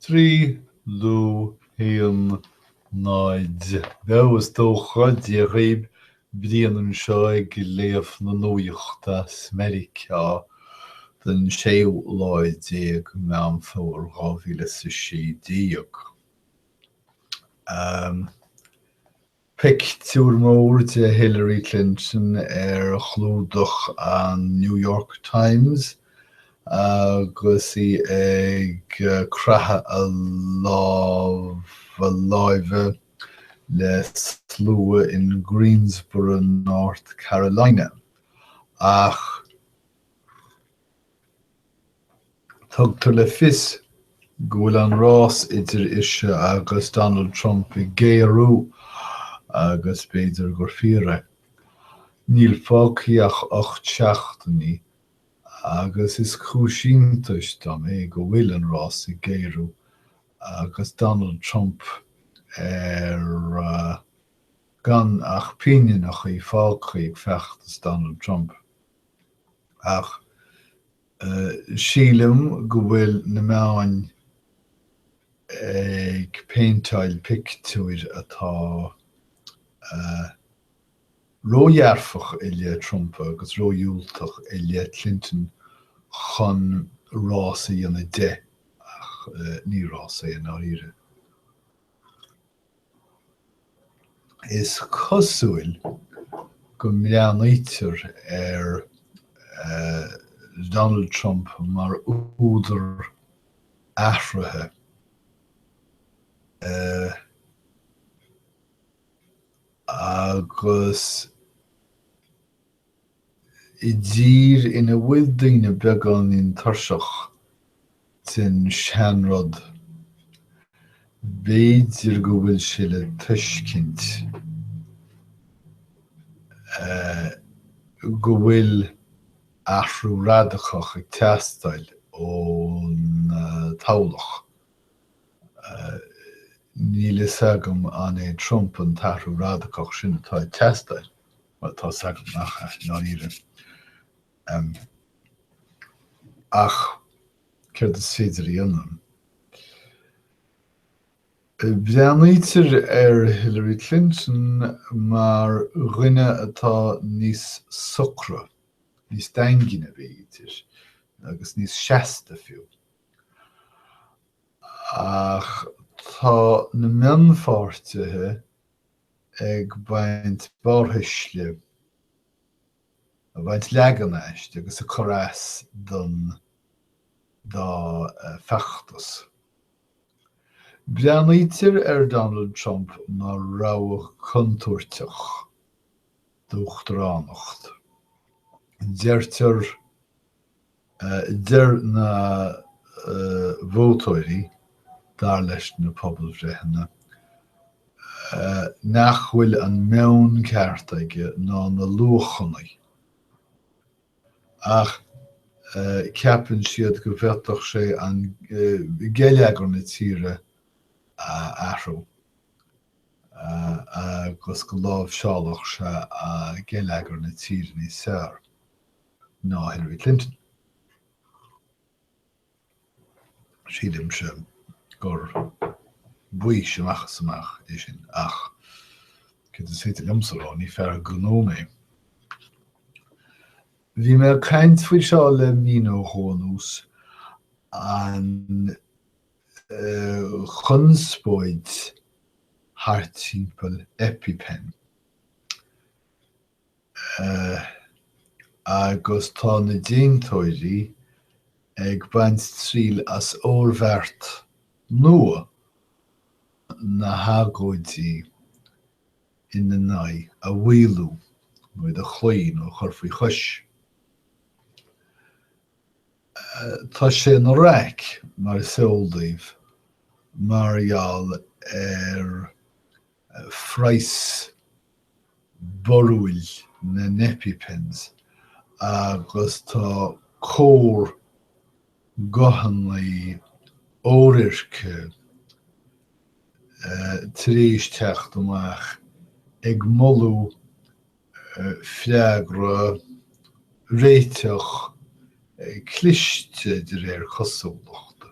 trí lú haon náid beo, is dócha. Dia dhaoib, Brian anseo ag léamh na nuachta as Meiriceá don séú lá déag Meán Fomhair dhá mhíle is a sé déag. Pictiúr mór de Hillary Clinton ar chlúdach an New York Times agus í ag craitheadh a lá láimhe le slua in Greensboro, North Carolina. Ach. Tugtar le fios go bhfuil an rás idir ise agus Donald Trump ag géarú agus b'fhéidir gur fíor é. Níl fágtha ach ocht seachtaine agus is cúis iontais dom é go bhfuil an rás ag géarú agus Donald Trump ar gan ach pinginí fágtha ag feachtas Donald Trump. ach sílim go bhfuil na meáin ag péinteáil pictiúir atá ródhearfach i leith Trump agus ródhiúltach i leith Clinton chun rás a dhéanamh de, ach ní rás é i ndáiríre. Is cosúil go mbreathnaítear ar Donald Trump mar údar athruithe agus. I dtír ina bhfuil daoine beagáinín tuirseach den seanrud, b'fhéidir go bhfuil sé le tuiscint go bhfuil athrú radacach ag teastáil ón toghlacht. Níl a fhios agam an é Trump an t-athrú radacach sin atá ag teastáil. Bhuel, tá 's agam nach ea i ndáiríre. Em. ach céard is féidir a dhéanamh? Breathnaítear ar Hillary Clinton mar dhuine atá níos socra, níos daingne, b'fhéidir, agus níos seasta fiú. Ach tá na mionpháirtithe ag baint barrthuisle, ag baint leagan aisti agus ag cur as don dá fheachtas. Breathnaítear ar Donald Trump mar rogha chontúirteach d'uachtaránacht. Deirtear Deir na vótóirí, dar leis na pobalbhreitheanna, nach bhfuil an meon ceart aige ná na luachanna, ach ceapann siad go bhféadfadh sé geilleagar na tíre a athrú agus go láimhseálfadh sé geilleagar na tíre níos fearr. ná Hillary Clinton. Sílimse gur baois amach is amach é sin, ach céard is féidir liomsa a rá, ní fear gnó mé. Bhí mé ag caint faoi seo le mí nó dhó anuas, an chonspóid thart timpeall EpiPen. agus tá na déantóirí ag baint triail as oirbheart nua na hagóidí ina n-aghaidh a mhaolú, nó iad a chloí, nó a chur faoi chois. Tá sé ina raic, mar is eol daoibh, mar gheall ar. phraghas barúil na n-EpiPens agus tá cór guthanna oirirce tar éis teacht amach ag moladh freagra réiteach cliste de réir cosúlachta.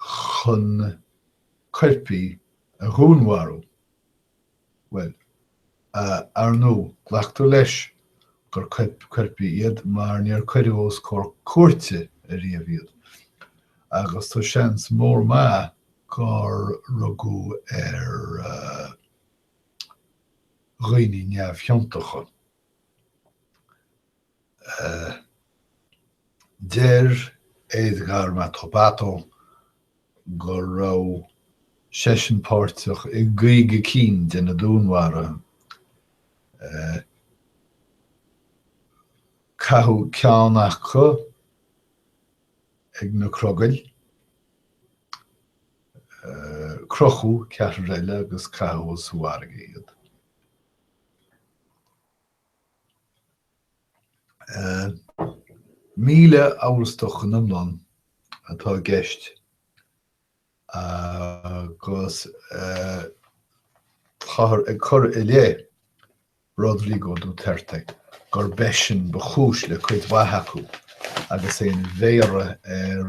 chun coirpigh a dhúnmharú. Bhuel, ar ndú, glactar leis gur coirpigh iad mar níor cuireadh os comhair cúirte ariamh iad. Agus tá seans mór maith gur rugadh ar dhaoine neamhchiontacha. Deir Edgar Matobato go raibh seisean páirteach i gcaoga cinn de na dúnmharuithe. Caitheadh ceann acu chuig na crogaill, crochadh ceathrar eile agus caitheadh sa bhfarraige iad. 1,000 amhrasach in iomlán atá i gceist agus táthar ag cur i leith Rodrigo Duterte gurb eisean ba chúis le cuid mhaith acu agus é ina mhéara ar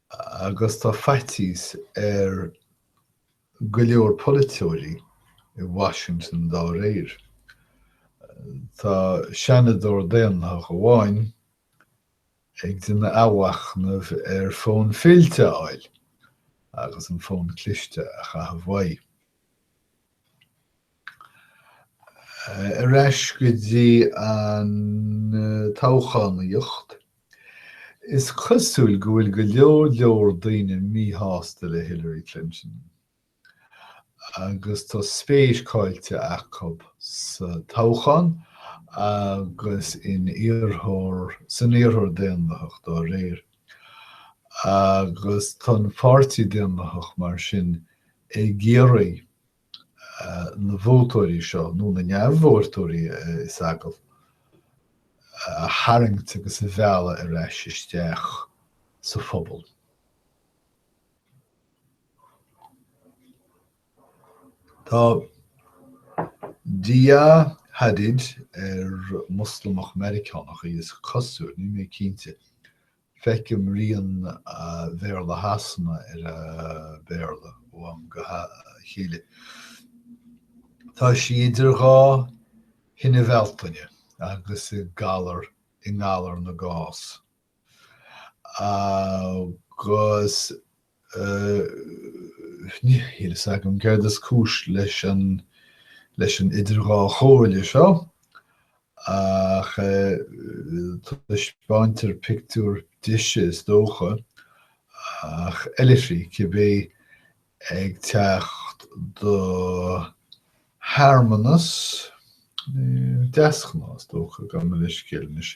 Agus tá faitíos ar go leor polaiteoirí i Washington dá réir. Tá Seanadóir Daonlathach amháin ag déanamh athmhachnaimh ar fhón fillte a fháil agus an fón cliste a chaitheamh uaidh. Ar ais go dtí an toghchánaíocht. Is cosúil go bhfuil go leor leor daoine míshásta le Hillary Clinton agus tá spéis caillte acu sa toghchán agus in iarrthóir, san iarrthóir Daonlathach dá réir. Agus tá an Páirtí Daonlathach mar sin ag iarraidh. na vótóirí seo, nó na neamhvótóirí is dóigh, a tharraingt agus a mhealladh ar ais isteach sa phobal. Tá Dia Hadid ar Moslamach Meiriceánach í, is cosúil, níl mé cinnte. Feicim rian Bhéarla Shasana ar a Béarla ó am go chéile. Tá sí idir dhá thine Bhealtaine agus i ngalar i ngalar na gcás. Agus Níl a fhios agam céard is cúis leis an leis an idir dhá chomhairle seo, ach taispeáintear pictiúr dise, is dócha, ach oilithrigh, cibé, ag teacht do shearmanas, deasghnáth, is dócha, gabh mo leithscéal anois.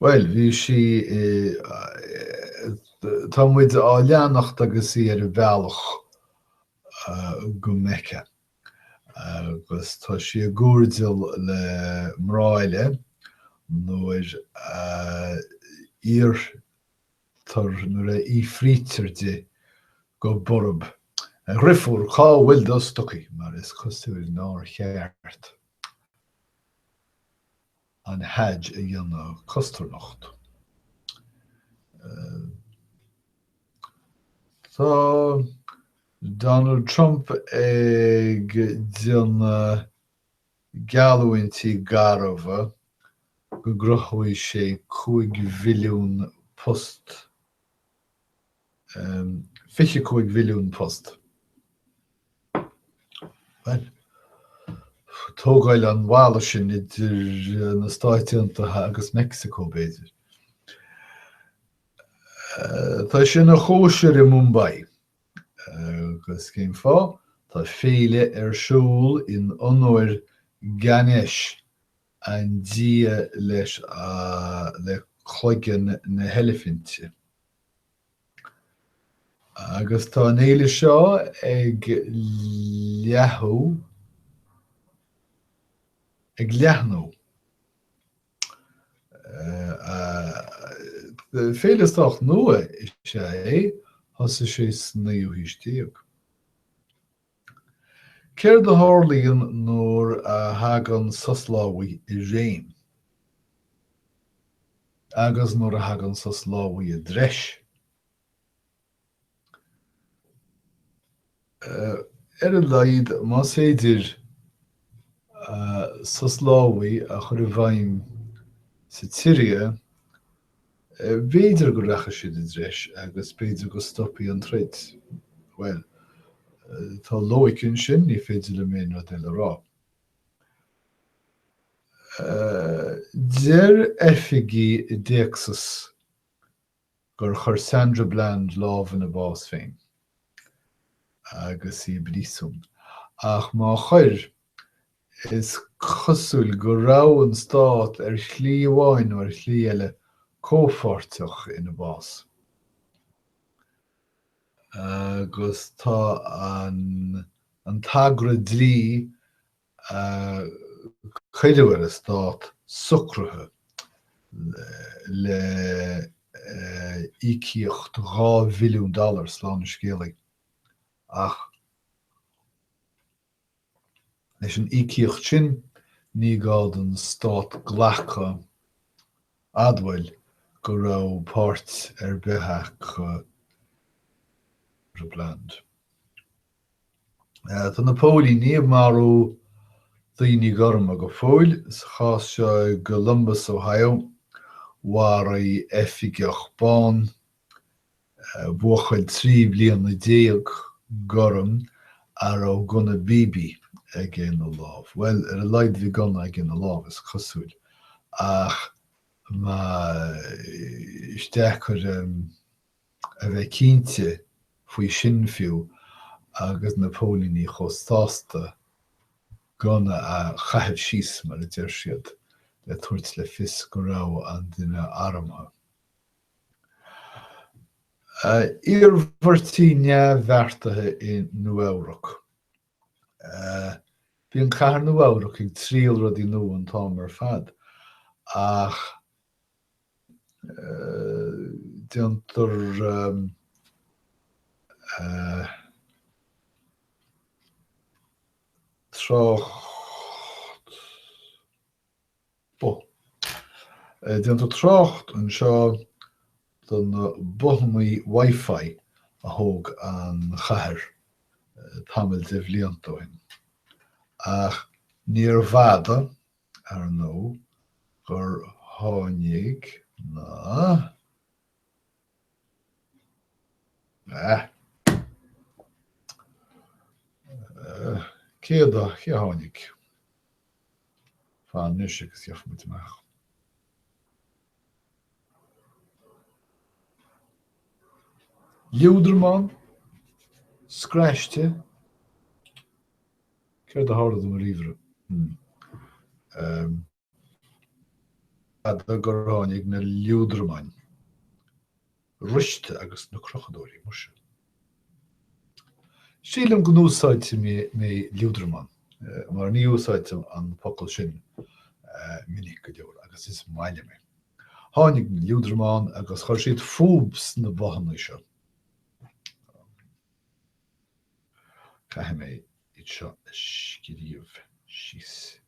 Bhuel, bhí sí i. tá muid á leanacht agus í ar an bhealach go Mecca. Agus tá sí ag cuartaíocht le mná eile nuair a iarrtar, nuair a fhiafraítear di go borb, A dhrifiúr, cá bhfuil do stocaí? mar is cosúil nár cheart. an Hajj a dhéanamh cosnocht. Tá Donald Trump ag déanamh geallúintí garbha go gcruthóidh sé 5 mhilliún post. 25 mhilliún post. Tógáil an bhalla sin idir na Stáit Aontaithe agus Meicsiceo, b'fhéidir. Tá sé ina chóisir i Mumbai. Agus cén fáth? Tá féile ar siúl in onóir Ganesh, An dia leis le cloigeann na heilifinte. Agus tá an fhéile seo ag leathadh, ag leathnú. Féile sách nua is ea é, thosaigh sé sa naoú haois déag. Céard a tharlaíonn nuair a thagann sos lámhaigh i réim? Agus nuair a thagann sos lámhaigh i dtreis? Ar a laghad, más féidir sos lámhaigh a chur i bhfeidhm sa tSiria, B'fhéidir go rachaidh siad i dtreis agus b'fhéidir go stopfaidh an troid. Bhuel, tá loighic ansin, ní féidir liom aon rud eile a rá. Deir oifigigh i dTéacsas gur chuir Sandra Bland lámh ina bás féin agus í i bpríosún, ach má chuir, Is cosúil go raibh an Stát, ar shlí amháin nó ar shlí eile, comhpháirteach ina bás. Agus tá an an t-agra dlí a cuireadh ar an Stát socraithe le íocaíocht dhá mhilliún dollar, slán an scéalaí, ach. Leis an íocaíocht sin, ní gá don Stát glacadh admháil go raibh páirt ar bith acu Bland. Tá na póilíní ag marú daoine gorma go fóill. Sa chás seo i gColumbus, Ohio, mharaigh oifigeach bán Buachaill trí bhliana déag gorm a raibh gunna BB aige ina lámh. Bhuel, ar a laghad bhí gunna aige ina lámh, is cosúil. Ach is deacair a bheith cinnte faoi sin fiú agus na póilíní chomh sásta gunna a chaitheamh síos, mar a deir siad, le tabhairt le fios go raibh an duine armtha. Iarmhairtí neamhbheartaithe i Nua-Eabhrac Bíonn cathair Nua-Eabhrac ag triail rudaí nua an t-am ar fad, ach déantar. trácht. Déantar trácht anseo do na bothanna Wi-Fi a thóg an chathair tamall de bhlianta ó shin, ach níorbh fhada, ar ndóigh, gur tháinig na. Cé a tháinig? Fan anois agus gheobhaidh muid amach. Liúdramán? Scraiste? Céard a tharla do mo ríomhaire? fada gur tháinig na liúdramáin ríste agus na crochadóirí, muise. Sílim go n-úsáidfidh mé liúdramán, mar ní úsáidtear an focal sin minic go leor, agus is maith liom é. Tháinig na liúdramáin agus chuir siad fúthu sna bothanna seo. Caithfidh mé iad seo a scríobh síos.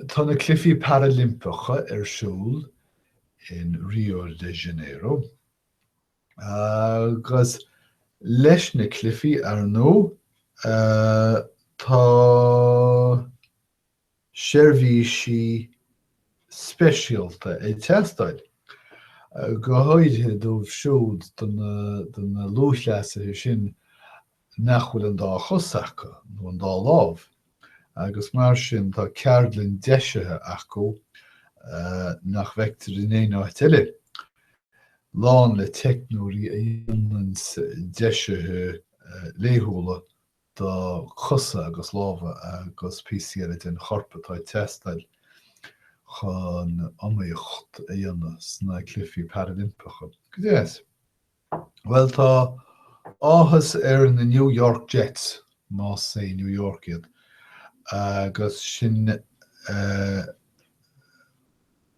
Tá na Cluichí Parailimpeacha ar siúl in Rio de Janeiro agus leis na cluichí, ar ndóigh, tá. seirbhísí speisialta ag teastáil, go háirithe dóibh siúd de na lúthchleasaithe sin nach bhfuil an dá chos acu, nó an dá lámh, agus mar sin tá ceardlann deisithe acu nach bhfeictear in aon áit eile, lán le teicneoirí a dhéanann deisithe laethúla do chosa agus lámha agus píosaí eile den chorp atá ag teastáil chun iomaíocht a dhéanamh sna Cluichí Parailimpeacha. Go dtí seo. Bhuel, tá áthas ar na New York Jets, más é New York iad, agus sin, eh.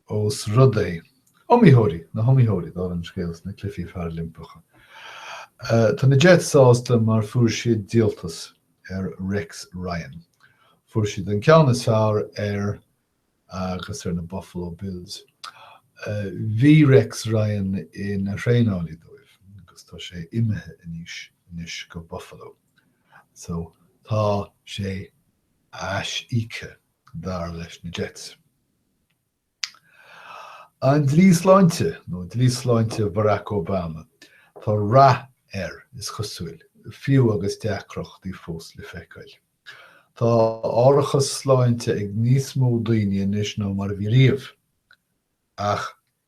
ós rud é. Iomaítheoirí, na hiomaítheoirí, dar an scéal sna Cluichí Parailimpeacha. Tá na Jets sásta mar fuair siad díoltas ar Rex Ryan. Fuair siad an ceann is fearr air agus ar na Buffalo Bills. Bhí Rex Ryan ina thraenálaí dóibh agus tá sé imithe anois, anois go Buffalo. So, tá sé A-OK. dar leis na Jets. An Dlí Sláinte, nó Dlí Sláinte Barack Obama, tá rath air, is cosúil, fiú agus deacrachtaí fós le feiceáil. Tá árachas sláinte ag níos mó daoine anois ná mar a bhí riamh, ach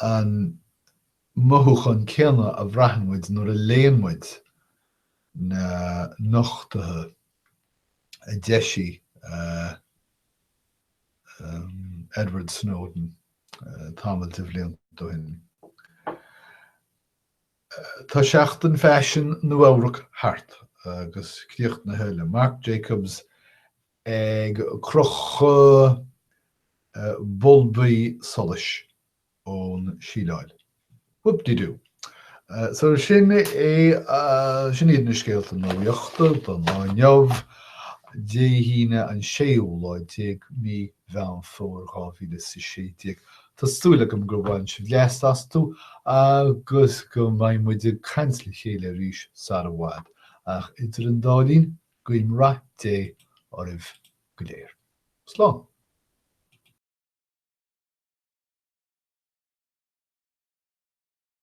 an mothúchán céanna a bhraitheann muid nuair a léann muid na nochtuithe a d'eisigh, eh, Edward Snowden tamall de bhliain ó shin. Tá Seachtain Faisin Nua-Eabhrac thart, agus críochnaithe le Marc Jacobs, ag crochadh bulbaí solais ón síleáil. Whoop-de-doo! So sin é, sin iad na scéalta nuachta don lá inniu, Dé hAoine an séú lá déag mí Mheán Fómhair dhá mhíle is a sé déag. Tá súil agam gur bhain sibh blas astu agus go mbeidh muid ag caint le chéile arís sara bhfad, ach idir an dá linn, Guím rath Dé oraibh go léir. Slán.